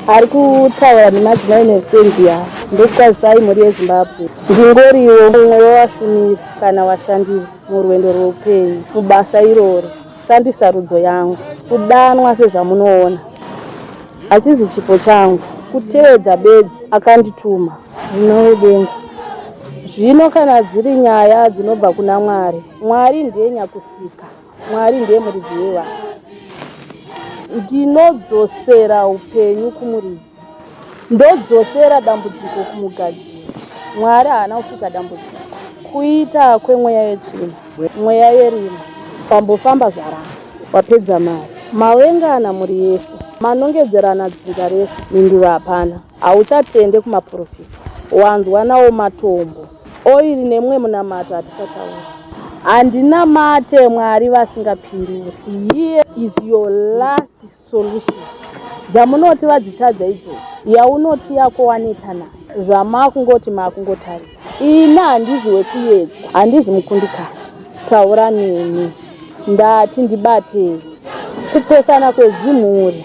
ari kutaura nemadzimai nesendia ndokukwazisai mhuri yezimbabwe ndingoriwo mumwe wevashumiri kana vashandiri murwendo rweupenyu mubasa iroro sandisarudzo yangu kudanwa sezvamunoona hachizi chipo changu kutevedza bedzi akandituma zvino wedenga zvino kana dziri nyaya dzinobva kuna mwari mwari ndiye nyakusika Mwari ndiye muridzi wevana. Ndinodzosera upenyu kumuridzi. Ndodzosera dambudziko kumugadziri. Mwari haana kusika dambudziko. Kuita kwemweya yetsvina. Mweya yerima. Pambofamba zvaramba. Wapedza mari. Mawengana mhuri yese. Manongedzerana dzinza rese. Mhinduro hapana. Hauchatende kumaprofita. Wanzwa nawo matombo. Oiri nemwe munamato hatichataura. Handinamate Mwari vasingapinduri. Here is your last solution. Dzamunoti vadzitadza idzo. Yaunoti yako waneta nayo. Zvamakungoti makungotarisa. Ini handizi wekuyedzwa. Handizi mukundikana. Taura neni. Ndati ndibatei. Kupesana kwedzimhuri.